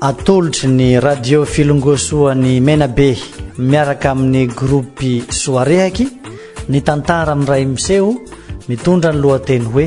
atolotry ny radio filongosoan'ny menabe miaraka amin'ny gropy soarehaky ny tantara miray miseho mitondra ny lohateny hoe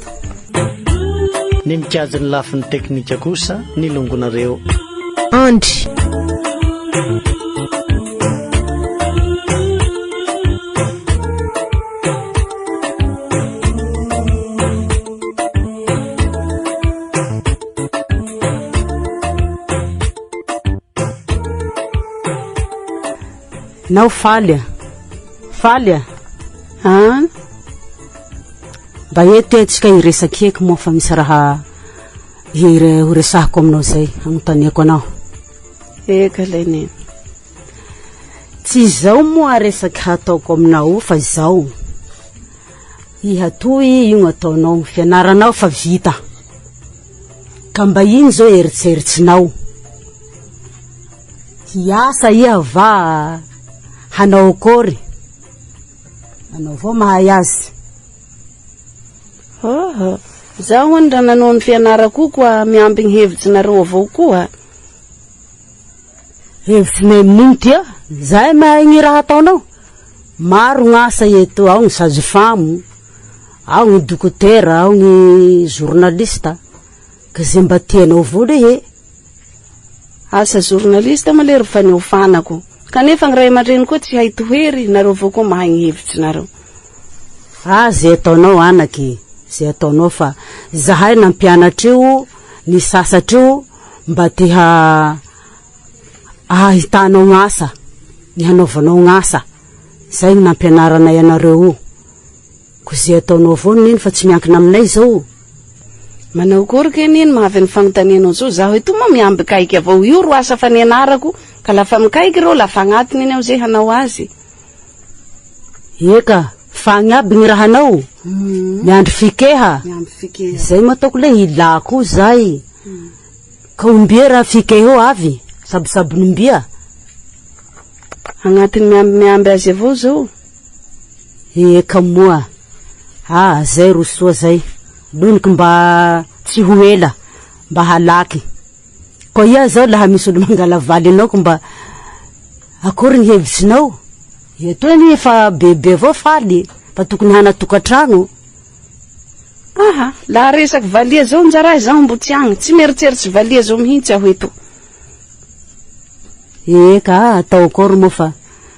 Ny mikajy ny lafiny teknika kosa ny longonareo. Andry. Nao faly a. Faly a. An. Mba eto e tsika hiresaka eky moa fa misy raha hire ho resahako aminao zay agnontaniako anao. Eka lay neny. Tsy izao moa resaka hataoko aminao fa izao. Hihatohy io ataonao fianaranao fa vita. Ka mba ino zao eritseritsinao? Hiasa iha va hanao akory? Anao vao mahay azy. Hoho, izaho hono raha nanao ny fianarako koa miampy ny hevitsinareo avao koa. Hevitsinay amin'iny dia izay mahay ny raha ataonao. Maro ny asa eto, ao ny sage-femme, ao ny dokotera, ao ny journaliste, ka izay mba tianao vao rehe. Asa journaliste moa lery faneofanako kanefa ny ray aman-dreny koa tsy hay tohery nareo vao koa mahay ny hevitry nareo. Ah ze ataonao anaka e ze ataonao fa zahay nampianatra io ny sasatra io mba te ha ahitanao gn asa ny hanaovanao gn asa zay no nampianaranay anareo io. Ko ze ataonao avao Neny fa tsy miankina aminay izao. Manao akory kay Neny mahavy ny fanontanianao zao, zaho etoa moa miha mbikaiky avao, io ro asa fa nianarako ka la fa mikaiky ireo la fa agnatiny eny aho ze hanao azy. Eka, fa agny aby gny rahanao, miandry fikeha, zay moa ataoko le ila koa zay, ka ombia raha fikeheo avy, sabosabon'ombia? Agnatiny miamby miamby azy avao zao. Eka moa a! zay ro soa zay, loniko mba tsy ho ela mba halaky. Koa iha zao laha misy olo mangala valy anao ko mba akory ny hevitsinao? Etoa anie efa bebe avao faly e! fa tokony hana tokatrano. Aha, laha resaky valiha zao nja raha izaho mbo tsy agny, tsy mieritseritsy valiha zao mihintsy aho etoa. Eka a! atao akory moa fa.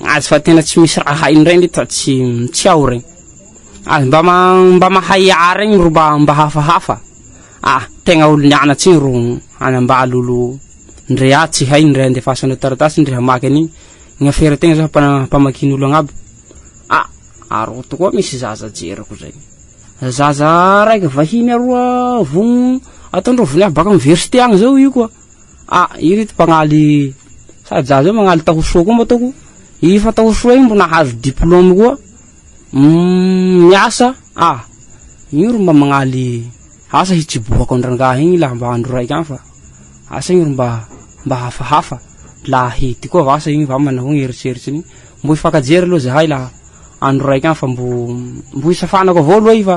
Azy fa tena tsy misy raha hainy regny le tsy tsy ao regny. Azy mba mba mahay hiaha regny ro mba mba hafahafa. Ah, tegna olo nianatse igny ro hanambalo olo ndre ah tsy hay ndre andefasanao taratasy ndre hamaky an'igny. Ny afera tegna zao mpana- mpamakin'olo agnabo. Ah, aroto koa misy zaza jeriko zay. Zaza raika vahiny aroa vogno ataondreo vinaha baka université agny zao io koa. A, ireto mpagnaly sahaja zao magnaly taho soa koa mba ataoko i fa taho soa igny mbo nahazo diplôme koa uhm miasa a io ro mba magnaly asa hitsibohako an-drangahy igny laha mba andro raiky agny fa asa igny ro mba mba hafahafa laha ahidy koa vasa igny va manao igny eritreritry igny mbo hifankajery aloha zahay laha andro raiky agny fa mbo mbo hisafanako avao aloha i fa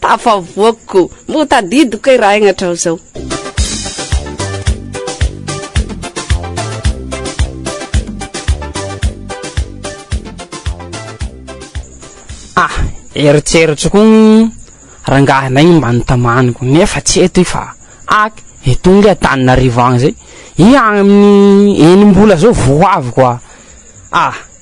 Tafavoakiko. Moa tadidiko kay raha aigna hatrao zao. Ah, eritreritro koa ny rangahy anay mba nitamaniko nefa tsy eto i fa ak eto nge Antananarivo agny zay i agny amin'ny enim-bola zao vao ho avy koa ah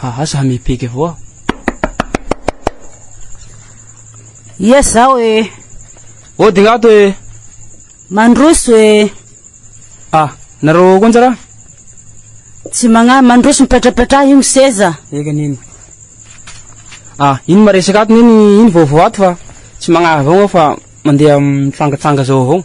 Ha ha za mipega avao aho. Ia zaho e. Ô dingato e. Mandroso e. Ah, nareo koa njara? Tsy magna mandroso mipetrapetraha io ny seza. Eka neny. Ah, iny maresaka ato neny iny vaovao ato fa tsy magna avao fa mandeha mitsangatsanga zao avao.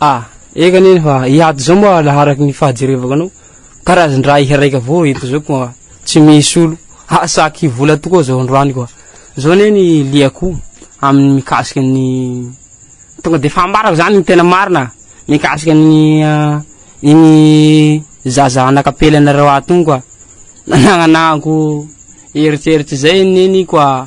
A, eka anie ny fa hiady zao moa laharaky ny fahajerevako anao karazan-draha iha raika avao eto zao koa tsy misy olo hahasaky vola tokoa zao androany koa zao anie ny liako amin'ny mikasika ny tonga de fa ambarako zany ny tena marina mikasika ny ah, iny zaza anakapelana reo ato iny koa nananako eritreritry zay neniko ah.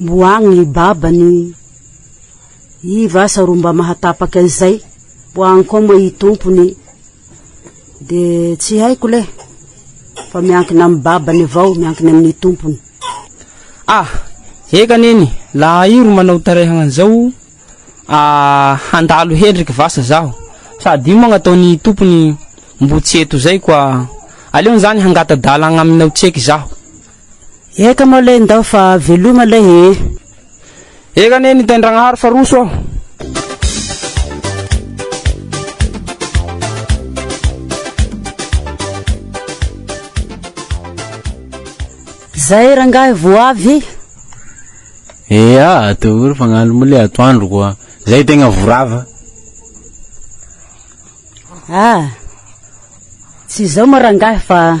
Moagny i baba ny i vasa ro mba mahatapaka an'izay moagny koa moa i tompo ny de tsy haiko le fa miankina amin'ny babany avao miankina amin'ny tompony. Ah! Eka neny, la ahy ro manao tarehagna an'izao ah handalo hendriky vasa zaho sady io moagny ataon'i tompony mbo tsy eto zay koa aleony zany hangata-dalagna aminao tseky zaho. Eka moa lay ndao fa veloma lay ee. Eka anie ny Taindragnahary fa roso aho. Zay rangahy vo avy. Eaa daholo fa gnalo moa le atoandro koa. Zay tegna vo rava. Ah. Tsy zao moa rangahy fa.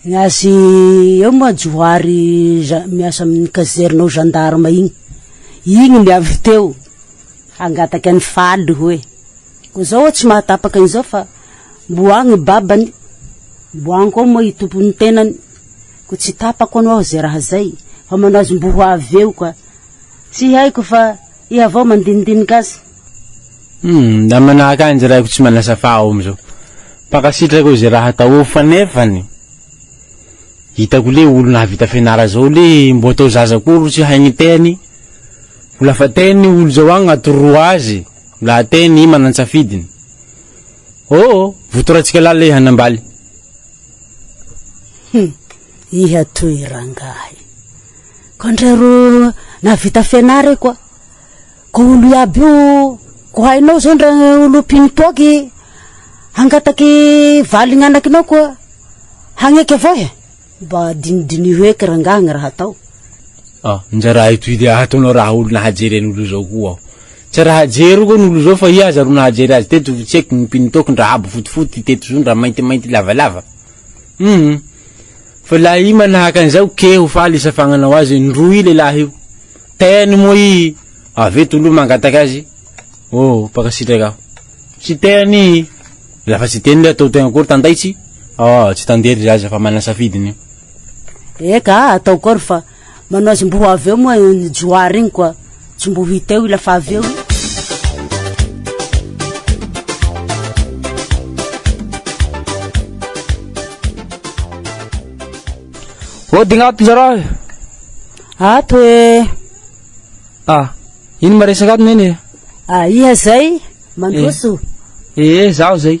Ny azy eo moa Johary miasa amin'ny caserne ao gendarme igny, igny ny avy teo hangataka an'i Faly hoe ko zao tsy mahatapaka an'izao fa mbo agny i babany, mbo agny koa moa i tompon'ny tenany, ko tsy tapako anao ze raha zay fa manao azy mbo ho avy eo ka, tsy haiko fa. Iha vao mandinidinika azy. Humm da manahaka anjy raiko tsy manasa fa aho amizao mpankasitraka eo ze raha atao eo fa nefany hitako le olo nahavita fianara zao le mbo atao zaza koa ro tsy hay miteny ko lafa teny ny olo zao agnaty roa azy la teny i manan-tsafidiny oo votoratsika la le hanambaly Humm iha toy rangahy. Ko ndray ro nahavita fianara e ko ko olo iaby io ko hainao zao ndra olo mpino toaky hangataky valigny anakinao ko hagneky avao e mba dinidiniho eky rangahy gny raha atao ah ndra raha itoy dia hataonao raha olo nahajery an'olo zao ko aho tsy raha jeriko an'olo zao fa iaza ro nahajery azy teto tsy eky gny mpino toaky ndra habo fotifoty teto zao ndra maintimainty lavalava hum Fa la i manahaka an'izao ke ho faly isa fagnanao azy indroa i lehilahy io. Teany moa i avy eto aloha mangataka azy. Oh, mpankasitraka aho. Tsy teany i. La fa tsy teny le atao tegna akory tandaitsy? Oh, tsy tandely za aza fa manana safidiny io. Eka, atao akory fa. Manao azy mbo avy eo moa ny Johary iny koa tsy mbo hita eo ila fa avy eo iny. Hodigna ato njarao e. Ato e. Ah, ino maresaka ato neny e? Ah, iha zay? Mandroso. Eh, eh, zaho zay.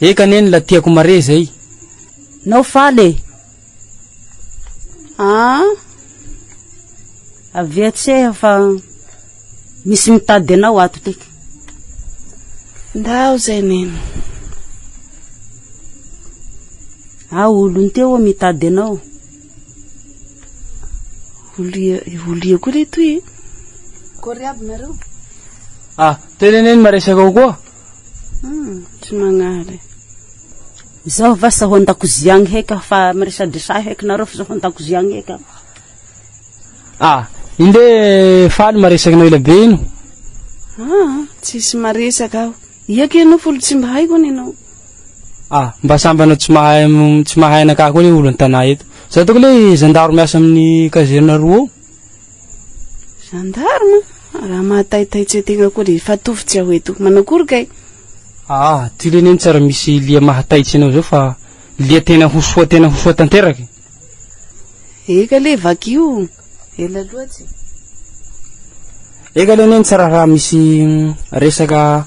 Eka neny la tiako mare izay. Nao faly e! Ah! Avia tseha fa misy mitady anao ato tika. Ndao zay neny. Ah, olony teo mitady anao. Olia, olia koa le toy e. Kory aby nareo. Ah, tena neny maresaka kokoa. Hmm, tsy magnary. Izaho va sa ho an-dakozia agny heka fa miresadresahy heky nareo fa za ho an-dakozia agny heka. Ah, inde faly maresaka anao ela be ino. Ah, tsisy maresaka aho. Iaka ianao folo tsy mba haiko any ianao. Ah, mba samby anao tsy mahay tsy mahay anakah koa le olo an-tanà eto. Za toko le zandaro miasa amin'ny kazerina roa. Gendarme? Raha mahataitay tsy hoe tegna koa dia efa tofy tsy aho eto. Manao akory kay? Aa, ty leny anie tsara misy lia mahataitsy anao zao fa lia tena ho soa tena ho soa tanteraka e. Eka le vakio, ela loatsy e. Eka leny anie tsara raha misy resaka.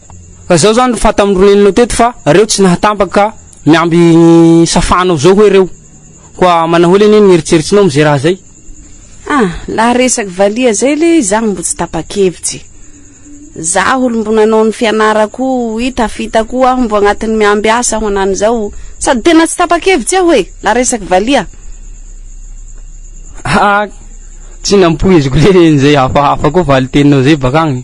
Ka zao zany ry fanta amin'ny renenao teto fa reo tsy nahatambaka ka miamby safanao zao hoe reo. Koa manahoana anie ny eritseritsinao amin'izay raha zay? Ah, la resaky valiha zay le izaho mbo tsy tapa-kevitra e. Zaho olo mbo nanao ny fianarako i tafita koa aho mbo agnatin'ny miamby asa aho anan'izao sady tena tsy tapa-kevitra aho e la resaky valiha. Ah, tsy nampoiziko le nizay hafahafa koa valin-teninao zay bak'agny.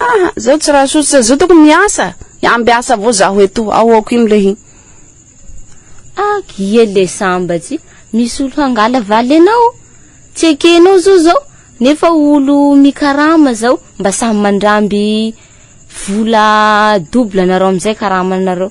Aa zao tsy raha sosotra zao tokony miasa amby asa vao zaho eto ao aoko iny le hin. Ak ie le sambatsy misy olo hangala valy anao tsy ekenao zao zao nefa olo mikarama zao mba samy mandramby vola double anareo amizay karamanareo.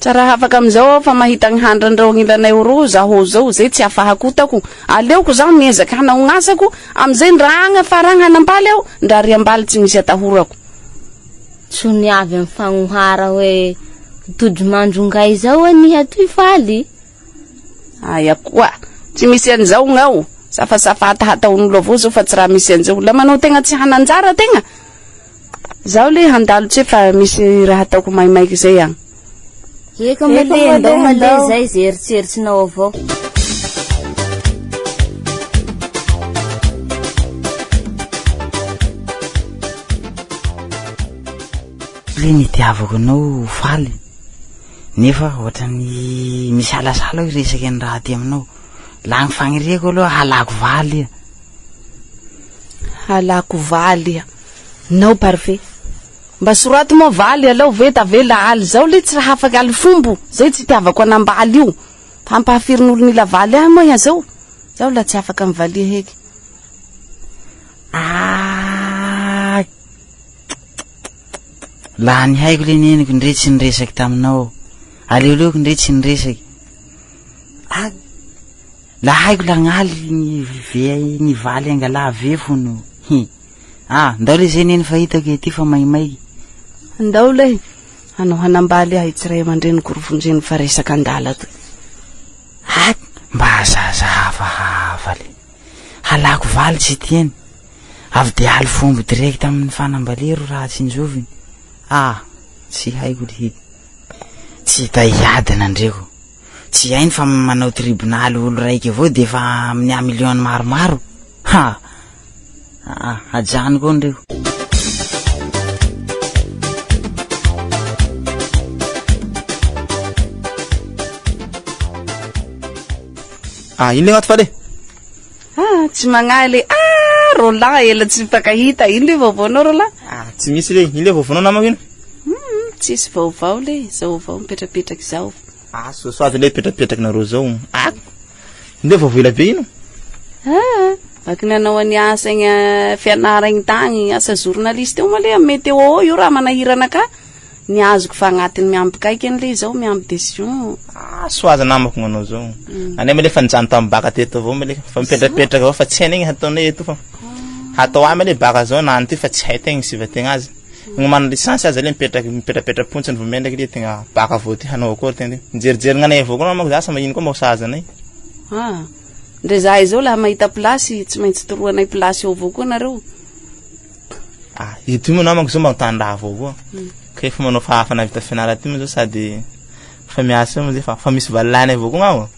Tsy raha afaka amin'izao aho fa mahita ny handrin'ireo agnilanay ho roa zaho izao, izay tsy afahakotako. Aleoko izaho miezaka hanao ny asako, amin'izay ndra agna fa ragna hanambaly aho, ndra ry ambaly tsy misy atahorako. Tsy ny avy amin'ny fagnohara hoe tojo mandro ngaizao anie hatoy faly Aia koa. Tsy misy an'izao ngao. Safasafa hatahataon'olo avao zao fa tsy raha misy an'izao. La manao tegna tsy hananjara tegna. Zaho le handalo tse fa misy raha ataoko maimaika zay an. Eka male ndao male zay ze eritseritsinao avao. Ry ny itiavako anao ho faly. Nefa ohatran'ny misalasala aho hiresaka an'i Rahaty aminao. Lany fagniriako aloha halako valy iha. Halako valy iha. Nao parfait. Mba soraty moa valy alao ve tavela aly izao le tsy hafaka aly fombo zay tsy itiavako an'ambaly io. Fa ampahafirin'olon'ila valy ahy moa iha zao. Zaho la tsy afaka mivalia heky. Aakk. Lany haiko le neniko ndre tsy niresaky taminao aleoleoko ndre tsy niresaky a la haiko la ngaly ny ve ny valy angala ve fono hi a ndao le zay neny fa hitako ety fa maimaiky ndao le anao hanambaly ahy tsy ray aman-dreny gorovonjeny fa resaka andala to a mba azahazaha hafahafa le Halako valy tsy tiany. Avy dia haly fombo direct amin ny fanambalia ro raha tsinjoviny. Ah! Tsy haiko ry hit. Tsy hita hiady nandreko. Tsy hainy fa manao tribonaly olo raika avao dia efa miha million maromaro. Ha! Aa hajany koa ndry io. Ah ino le maty fale? Ah tsy magnahy le ah Roland ela tsy mpakahita. Ino le vaovao nao Roland? Ah tsy misy le. Ino le vaovao nao namako ino? Hmm, tsisy vaovao le. Zao avao mipetrapetraka izao. Ah soasoavy le petrapetrakinareo zao. Ah. Ndeo vao voela be ino? Haa, vaky nanao any asa egny eh, fianara egny tagny, asa journaliste eo male am meteo ao eo raha manahirana ka. Ny azoko fa agnatin'ny miampy kaiky any le izao, miampy décision. Ah, soa aza namako gnanao zao. Mm. Anay male fa nijano tam baka teto avao male fa mipetrapetraka avao fa tsy hainay gny hataonay eto fa. Hatao amale baka zao na any ty fa tsy hay tegna isivategna azy. Magnomana licence aza le mipetraky mipetrapetra pontsiny vao mendraky le tegna baka vao te hanao akory tegna le mijerijery gnanay avao koa manko za sa magnino koa mba ho sahaza anay. Ah, ndre zahay zao laha mahita place tsy maintsy toroanay place eo avao koa nareo. Ah, ity moa namako zao mba tany raha avao koa. Hmm. Ka efa manao fa hafa navita fianarana ty moa zao sady fa miasa moa zay fa fa misy valilahiny avao koa gnao.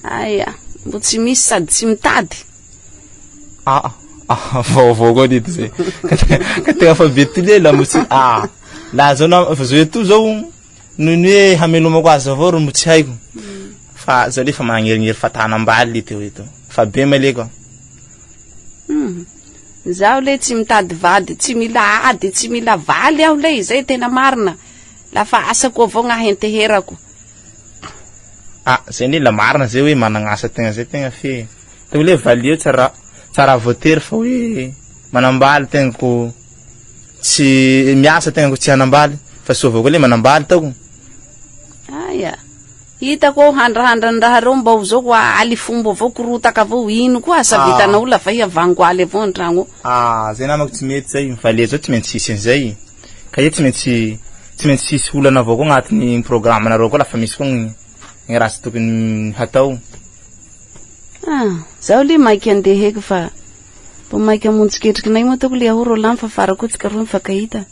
Aia, mbo tsy misy sady tsy mitady. Ah, ah, vaovao koa dito zay. Ka tegna fa be tolé la mosy. Ah, la zao na fa zao eto zao noho ny hoe hamelomako azy avao ro mbo tsy haiko. Fa zao le fa magnerinery fatana ambaly le teo eto. Fa be malé koa. Hmm. Zaho le tsy mitady vady, tsy mila ady, tsy mila valy aho le izay tena marina. La fa asako avao gnahy enteherako. Ah, zay ndray la marina zay hoe managna asa tegna zay tegna fe tegna le valio tsy raha tsy raha voatery fa hoe manambaly tegna ko tsy miasa tegna ko tsy hanambaly fa soa avao koa le manambaly taoko aya hitako ao handrahandra ny raha reo mba ho zao koa aly fomba avao korotaka avao ino koa asa ah. vitanao la vay avango aly avao antragno ah zay namako tsy mety zay valia zao tsy maintsy hisy an'izay ka io tsy maintsy tsy maintsy hisy olana avao koa agnatin'ny programme-nareo koa lafa misy koa ny raha tsy tokony hatao. Ah, zaho le maika andeha heky fa vao maika hamonjy ketrikinay moa ataoko le aho Roland mifafara koa tsika roa mifankahita.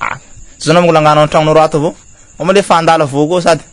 Ah, tsy zao namangolangana ao an-tragnonareo ato avao. Moa malefa handalo avao koa sady.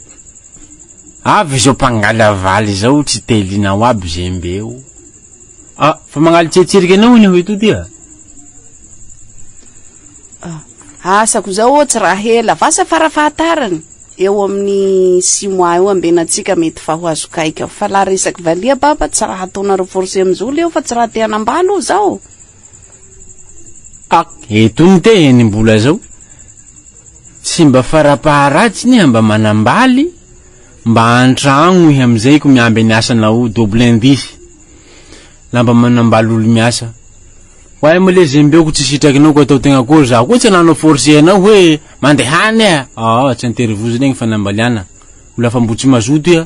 Avy izao mpangala valy izao tsy te liana ho aby zembe o. Ah, fa mangaly tsetsirika anao anie hoe toty a. Ah, asako izao ô tsy raha ela, vasa fara fahatarany, eo amin'ny six mois eo ambenantsika mety fa ho azo kaika. Fa la resaky valiha baba tsy raha ataonareo forcer amin'izao leo fa tsy raha te hanambala o zao. Ah, eto ny tehiny mbola zao. Tsy mba farapaharatsiny iha mba manambaly, mba antragno iha amizay ko miamby any asanao double indice. La mba manambaly olo miasa. Ho ahy male zembe ko tsy sitrakinao ko atao tegna akory za ko tsy ananao force anao hoe mandehana iha. Ah, tsy interview zegny ny fanambaliana. Ho la fa mbo tsy mazoto iha,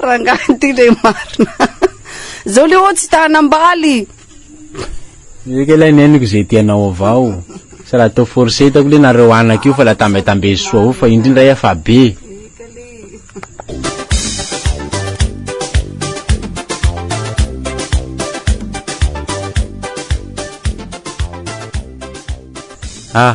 Rangahy ity le marina. Zao le oa tsy ta hanambaly. Eka ilay neniko izay tianao avao. Tsy raha atao forcer hitako le nareo anaka io fa la tambetambe soa avao fa indry ndray hafa be. Ah,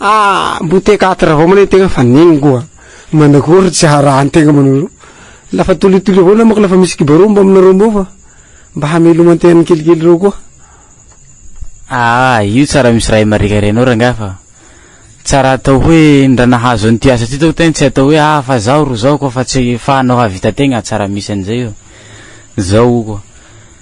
Ah mbo te ka travao mane tegna fa neny ngo a! manakôry tsy haraha tegna mbo la fa tolitolio avao namako la fa misy kibarô mbo aminareo mbô fa mba hameloman tegna ny kelikely reo koa. Aah io tsara misy raha imarikary anao rangahy fa tsara atao hoe ny raha nahazo an'ity asa ty tao tegna tsy atao hoe ah fa zaho ro zao koa fa tsy efahanao hahavita tegna tsara misy an'izay io zao koa.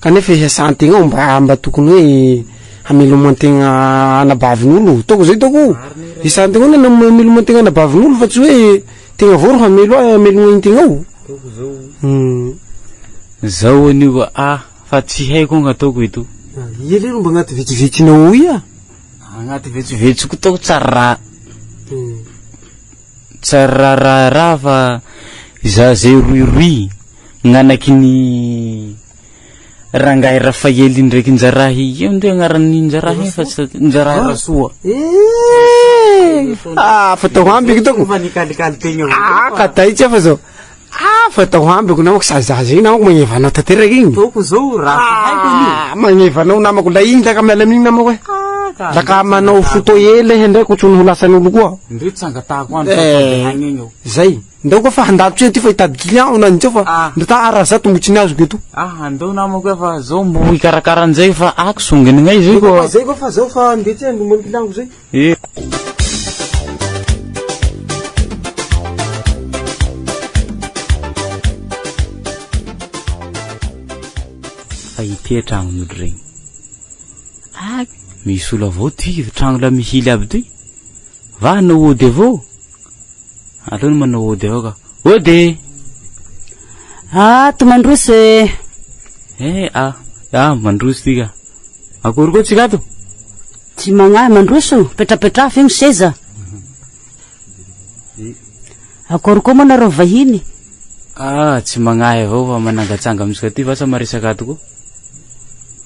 Kanefa hiasan-tegna ao mba mba tokony hoe hameloman-tegna anabavin'olo ataoko zay ataoko o, hiasan-tegna ao ny hameloman-tegna anabavin'olo fa tsy hoe tegna avao ro hamelo ahy hamelogna an-tegna o, uhm. Zao anio ka a, fa tsy haiko anga ataoko eto. Ia leroa mba agnaty vetsovetsinao ao ia? Agnaty vetsovetsoko tao tsy ary ra tsy ary ra ra ra fa izaho zay roiroy. Gnanaky ny rangahy Rafaely ndraiky Njarahy eo nde agnaran'ny Njarahy fa tsy Njarahy Rasoa. Eehh ah fa tao amby kitako. Fomba nikalikali tegna avao koa. Ah ka taitsy aho fa zao. Ah fa tao amby ko namako sady zaza iny namako magneva anao tanteraka igny. Ataoko zao raha tsy haiko anio. Ah magneva anao namako la igny taka miala amin'igny namako e. Ah ka. La ka manao photo ela iha ndray ko tsy ho lasan'olo koa. Ndre tsy angatahako andro fa sady hagny egny eo. Zay. Ndao koa fa handalo tse ty fa hitady client aho nanintseo fa ndao ta araha zato mbo tsy ny azoko eto. Aha, ndao namako eh fa zao mbo hikarakara an'izay fa ako zonginy ngay izay koa. Ndao koa fa zay koa fa zao fa ndeha tse handomany client ko zay. Fa ity eh tragnon'olo regny. Ak! Misolo avao ty tragno la mihily aby toy. Va hanao ody avao? Aleo ny manao ody avao ka. Ody! Ah, to mandroso eh! Eh, ah, ah, mandroso ty ka. Akory koa tsika ato? Tsy magnahy, mandroso, petrapetraha feno seza. Akory koa moa nareo vahiny? Ah, tsy magnahy avao fa manangatsanga amintsika ty vasa maresaka ato koa.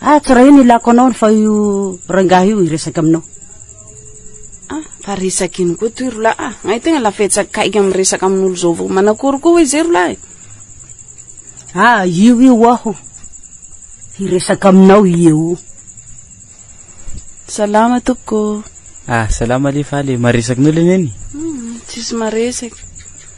Ah tsoraho ny ilako anao fa io rangahy io hiresaka aminao. Ah, fa resaka ino koa toy rola ah. Ngay tegna lafetsa akaiky amin'ny resaka amin'olo zao vao manakory koa hoe zay rola e. Ah, io io aho. Hiresaka aminao io. Salama tompoko. Ah, salama le fa le maresaky nolo neny? Hmm, tsisy maresaky.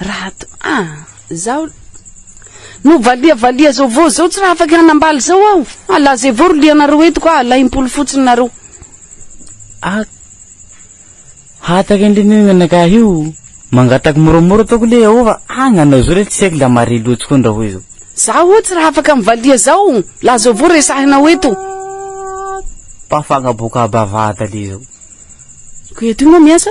Rato a! Zaho no valiavalia zao vao zao tsy raha afaka hanambaly zao aho fa la zay vao ro lianareo eto ka alaim-polo fotsiny nareo. Ah, hataka indray ny anakah io. Mangataka moramora ataoko le ao fa ah nanao zao le tsy haiko la mare loatsy koa ny raha hoe zao. Zaho tsy raha afaka mivalia zao la zao vao resahinao eto. Ah, mpafagna boka bavata le zao. Ko eto io moa miasa?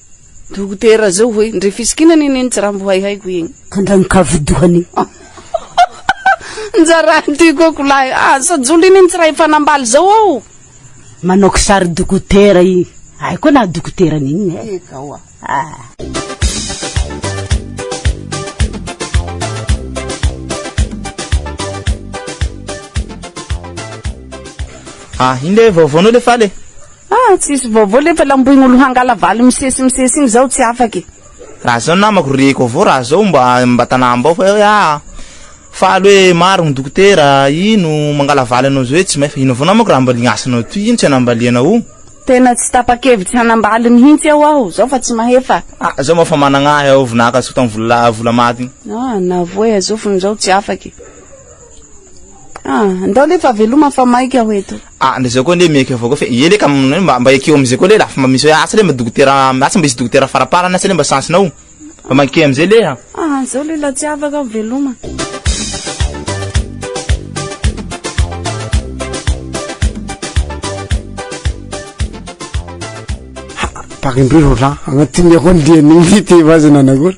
Dokotera zao hoe ndre fisikina anie neny tsy rambo hay haiko iny. Andragno ka vodohany. Njaraha ty koko lahy ah sa joli anie tsy raha efa nambaly zao aho. Manao kisary dokotera i. Hay koa naha dokotera ny inona eh. Eka oa. Ah. Ah iny le vaovaonao le faly e. Ah tsisy vaovao lefa lamboigny olo hangala valy misesy misesy igny zaho tsy afaka e. Raha zao namako reko avao raha zao mba mba tanambao fa hoe ah faly hoe maro ny dokotera ino mangala valy anao zao hoe tsy may fa ino avao namako raha mba lignasana toy ino tsy anambaliana o. Tena tsy tapakevitsy hanambaly mihintsy ao aho zao fa tsy mahefa. Ah zao moa fa managna ahy ao vinaka azoko tam vola vola maty igny. Ah na voay azofigny zaho tsy afaka e. Ah, ndao le fa veloma fa maika ho eto. Ah, ndao zao koa le miaiky avao koa fe ie le ka mba mba ekeo amizay koa le la fa mba misy hoe asa le mba dokotera asa mba hisy dokotera faraparany asa le mba chance nao mba maike amizay le a. Ah, zao le la tsy afaka aho veloma. Pakindroy roa lahy agnatin'ny ahoa ny lian'igny ty vazana na ahoana.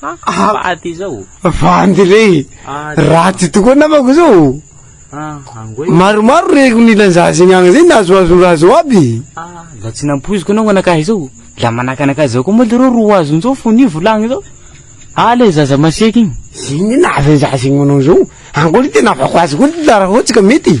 Vady zao. Vandy re. Ratsy tokoa namako zao. Maromaro reko ny lanzazy ny agny zay nahazoazo raha zao aby. Zah tsy nampoiziko anao anakahy zao. La manahaka anakahy zao koa moa le reo roa azony zao fony io volagny zao. Ah le zaza masiaky igny. Inona avy anzaza igny manao zao. Ankory tena avako azy koa ty tarafotsy ka mety.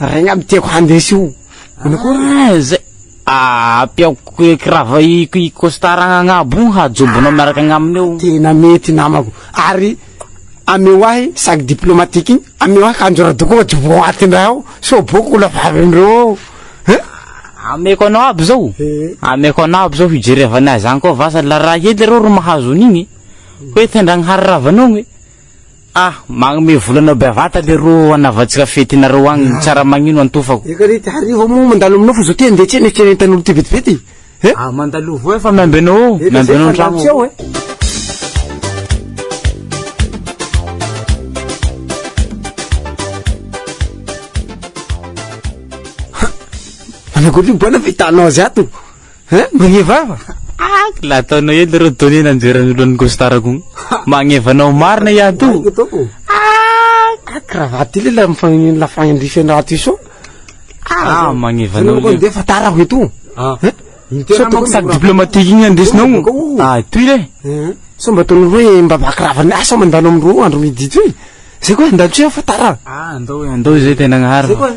Ray ngamba tiako handeha io. Manao akory zay. Ampiako kirava i costard agnabo io hajobonao miaraka agnaminy eo. Tena mety namako. Ary ameo ahy sac diplomatique igny, ameo ahy kanjo radoko ôhatra boaty ndray ao, sao bôka ho lavalindreo ao. Hein? Ameko anao aby zao. Ameko anao aby zao hijerevany azy agny koa vasa la raha hely reo ro mahazo an'igny. Hoe tendragny hariravanao igny. Ah magnome vola anao bevata leroa hanaovantsika fety nareo agny ny tsara magnino antofako. Eka re ty hariva moa mandalo aminao fa zao ty andeha tsena etsy entan'olo ty vetivety eh. Ah mandalo voa fa miamby anao ao miamby anao antragno ao. Hum! Manao akory io bwana fa hitanao azy ato. Hein? Magnevava? Ah, la ataonao eo leroa donner nanjera ny lohan'ny costard ko. Magneva anao marina i ato. Ah, cravate ile la mifagnin la fagnindrifen raty so. Ah, magneva anao. Ko ndefa tara ko eto. Ah. Sao tokony sac diplomatique igny andesinao. Ah, toy le. Sao mba ataonao hoe mba bakravana asa mandalo amin'ny roa andro midi toy. Zay koa andalo tsy fa tara. Ah, andao andao zay tena agnaharo.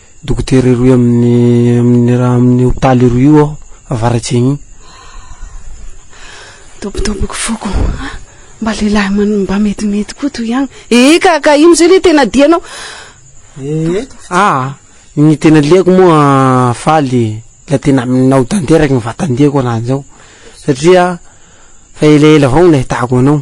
Dokotera roy amin'ny amin'ny raha amin'ny hopitaly roy io aho avaratsegny igny. Dobodoboky foko a! Mba lehilahy man mba metimety koa toy ihany. Ee ka ka ino zay le tena dianao? Ee aa ny tena liako moa faly la tena aminao tanteraky ny vatan-diako ananjao satria fa elaela avao no nahitako anao.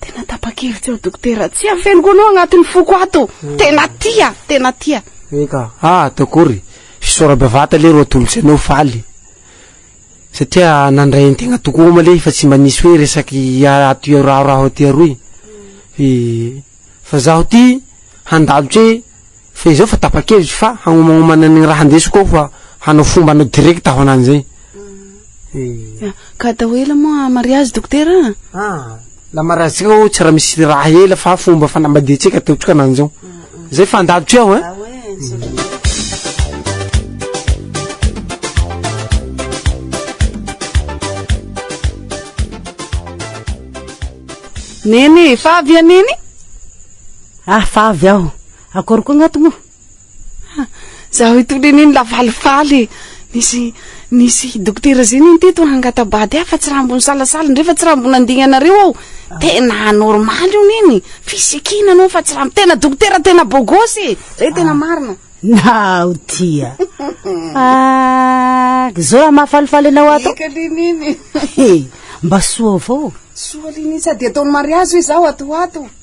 Tena tapakevitsy aho dokotera, tsy afeniko anao agnatin'ny foko ato, tena tia, tena tia. Eka, ah atao akory, fisaora bevata lery ho atolotry anao faly satria nandray antegna tokoa oma lery fa tsy mba nisy hoe resaky ato iarahoraho aty aroy, fa zaho ty handalo tse, Fa izao fa tapa-kevitro fa hagnomagnômana ny raha handesiko ao fa hanao fomba anao direct aho anany zay eh. Ka atao ela moa mariazy dokotera a? Ah, la mariazintsika ô tsy raha misy raha ela fa fomba fanambadiantsika ataontsika anany zao. Zay fa andadotry aho eh. Neny e, fa avy a Neny? Ah, fa avy aho. Akory koa ngah moa? Ha, zaho itony anie ny lafalifaly e! Nisy, nisy dokotera zay nony teto hangata-bady ahy fa tsy raha mbo nisalasala indray fa tsy raha mbo nandingana anareo aho. Tena anormaly io neny, fisikina anao fa tsy raha, tena dokotera tena bogosy e! Zay tena marina. Naho tia. Ah, zao raha mahafalifaly anao ato. Eka le neny. He, mba soa avao. Soa le neny sady ataon'ny mariazy hoe zaho ato ho ato.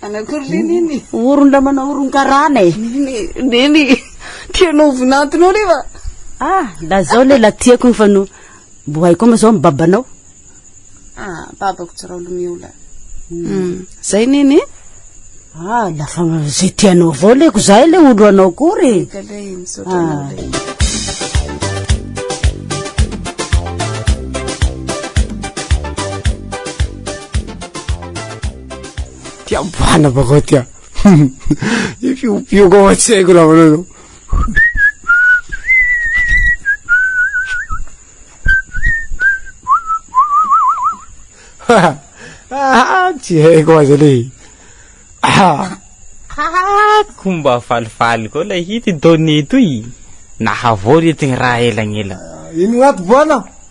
Anankory le nini? Oron la manao oronkarana e. Nini, nini, tianao ho vinantinao le va? Ah, la zao le la tiako ny fa no mbo hay koa ma zao ny babanao. Ah, babako tsy rao lomeo la. Hmm, zay nini? Ah, la fa ze tianao avao le ko zay le olo anao kory. Ka le misaotra ah. anao le. Tia boana bakao tia. Ifiopioka ao an-tsaiko raha manao zao. Tsy haiko aza le. Komba falifaly koa ilay hit donné toy. Nahavory ity raha elagnela. Ino ato boana?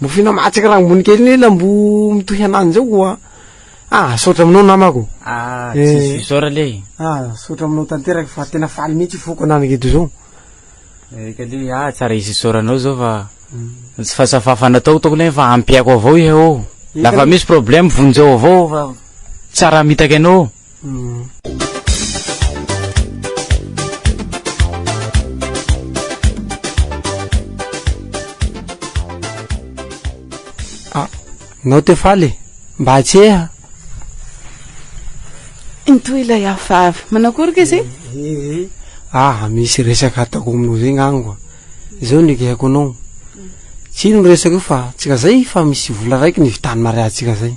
Mofina matsaka rangony kely ny lambo mitohy ananjy ao koa ah saotra aminao namako ah eh. tsisy fisaora le ah saotra aminao tanteraka fa tena faly mihitsy foko ananako eto zao eka le ah tsara hisy isaoranao zao fa mm. fa safafa natao toko le fa ampiako avao ihe o lafa misy problème vonjeo avao fa tsara mitaka ianao Ah, nao te faly e. Mba atseha. Intoy ilay hafahafa. Manao akory ke zay? Ah, misy resaka ataoko aminao zay ngango. Izao ny ekeko anao. Tsy ino resaka io fa tsika zay fa misy vola raiky ny vitan'ny mariazintsika zay.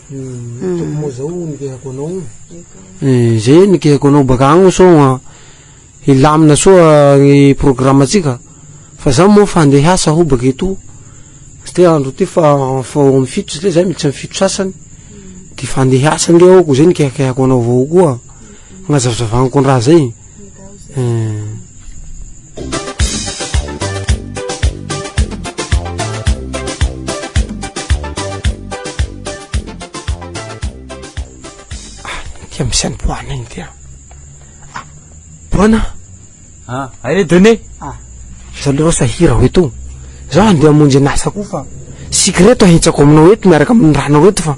Tompoko zao nikehako anao. Izay nikehako anao baka agny sao hilamina soa ny programantsika fa za moa fa andeha hiasa aho baka etoa tsy te andro ty fa fao am fito satria za miditsa am fito sasany de fa andeha hiasa nge aho ko zay nikehakehako anao avao koa agnazavazavaniko ny raha zay. Tia misy any boana iny tia ah, boana ah ae done ah zao le rosa hira ho eto zao andeha amonjy an'asa koa fa sikreto ahitsako aminao eto miaraka amin'ny ranao eto fa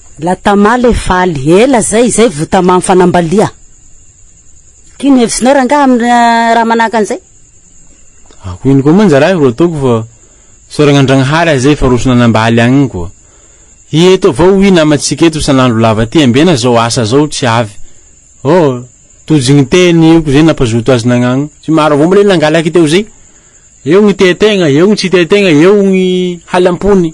La tamale e faly, ela zay, izay vo tamà mifanambalia. Ino hevisinao rangaha aminy raha manahaka an'izay? Ako ino koa manja raha ro ataoko fa isaoragna Andragnahary aza efa roso nanambaly agny koa. Hi eto avao oui namantsika eto isan'andro lava ty ambena zao asa zao tsy avy. Oh, Tojo gny teny io ko zay nampazoto azy nagnagno. Tsy maro avao mbole nangalaky teo zay. Eo gny tia tegna, eo gny tsy tia tegna, eo gny halam-pony.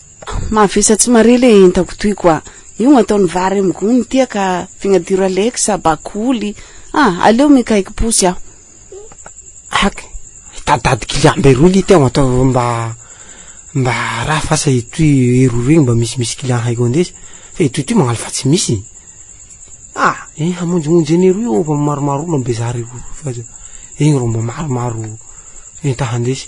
Mavesa tsy mare le entako toy quoi io ataony vary am gony tia ka fignadiro alex bakoly ah aleo mikaiky posy aho ak hitaditady client be roy lite mba mba mba raha fa asa itoy roa roy mba misy misy client haiko andesy fa itoy itoy magnalo fa tsy misy ah eh hamonjimonjy anie roy eo fa maromaro olona bezary roy fa iny ro mba maromaro enta handesy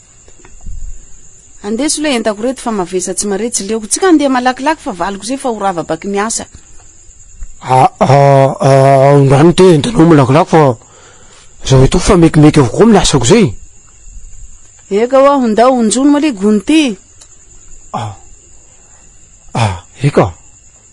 Andeso le entako reto fa mavesa tsy mare tsy leoko tsika andeha malakilaky fa valiko zay fa ho rava baky ny asa. Aondrany te entanao malakilaky fa zaho eto fa mekimeky avokoa amin'ny asako zay e. Eka ho'aho ndao honjono mali gony ty. Eka.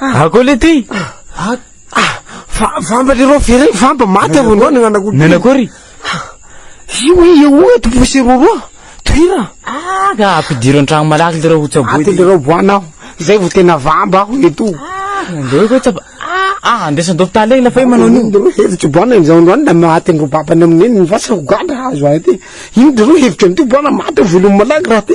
Ako le ty. Ah, ah, fa vamba le rô feré, vamba maty avy ndao nananako. Nanakory. Io e eo to posy roroa. Toira. Ah, ka ampidiro antragno malaky le rô ho tsaboy. Aty le rô boana aho. Zay vao tena vamba aho le to. Ah, ndao ko tsaba. Ah, ah, andesan do ptale ila fa manao ni. Ndao hevitro boana izao ndao na maty ndro babana minen ny vasa ho gadra azo aty. Ino ndro hevitro ndro boana maty volo malaky raha ty.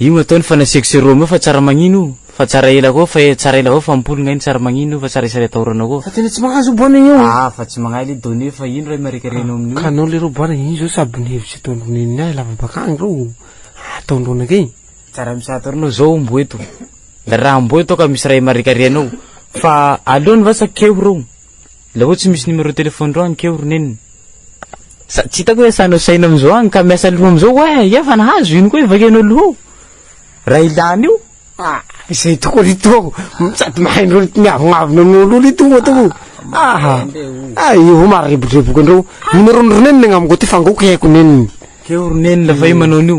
Io no atao ny fa nasiako sirop aminao fa tsara magnino io fa tsara ela koa fa tsara ela avao fa mimpoly ngahy ny tsara magnino io fa tsara isary atahorana koa. Fa tena tsy mahazo io bwana io. Ah fa tsy magnahy le Done fa ino ray marika renao amin'io. Ka anao leroa bwana ino zao sabo ny hevitry Don Done ny ahy lava bakagny reo ah Don Done kay. Tsara misato ranao zao ombo eto la raha amboa eto ka misy ray marika renao fa aleony vasa keo reo. La oe tsy misy numéro téléphone reo any keo ry neny. Sady tsy hitako hoe sahinao sahina amizao any ka miasa loha amizao oa eh! Efa nahazo ino koa ivakianao loha ao raha ilana io? Ah izay tokoa ry toa o! Sady mahay an'ireo miavonavona aminao loha ry toa toa o! Aha! Ah io avao maharebodreboka an'ireo! Numéro-n'i ry neny ny agnamiko aty fa angaoiko hihaiko neniny. Keo ry neny la fa io manao an'io.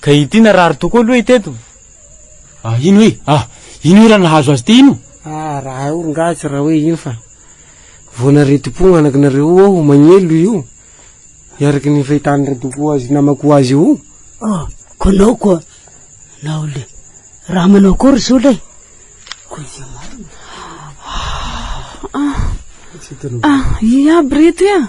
Ka ity narary tokoa aloha ity eto. Ah ino e? Ah ino e raha nahazo azy ity ino? Ah raha hay orongahy tsy raha hoe ino fa vao naretim-po ny anakinareo io aho magnelo io i araka ny fahitany ratokoa azy namako azy io. Ah koa nao koa nao le raha manao akory zao le koa izay marina. Ah ah ah ia aby reto ia.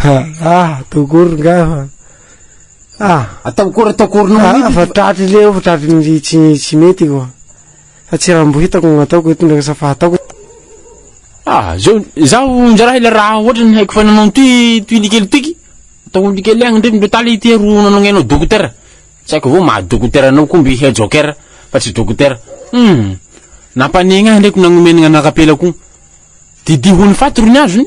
Ha ah atao akory ngahy fa ah Atao akory atao akory noho ny ah fa tratry leo fa tratry ny tsy tsy mety ko fa tsy raha mbo hitako no ataoko eto ndraiky sa fa ataoko Ah zao zaho njaraha ilay raha ohatra ny haiko fa nanao ny toy toy likely toiky atao ny likely agny ndrefy ndreo tala ity aro nanao ny anao dokotera tsy haiko avao maha dokotera anao koa mby he jokera fa tsy dokotera hum nampanegny ahy ndreko nagnomeny gnanakapela ko didiho ny faty ro ny azony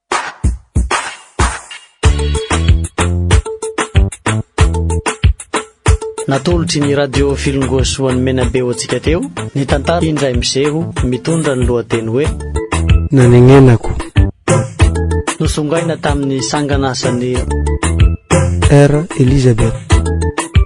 Natolotry ny Radio Filingoasoa an'i Menabe ho antsika teo ny tantara Indray miseho mitondra ny lohateny hoe Nanenenako. Nosongaina tamin'ny sangan'asan'ny R Elizabeth.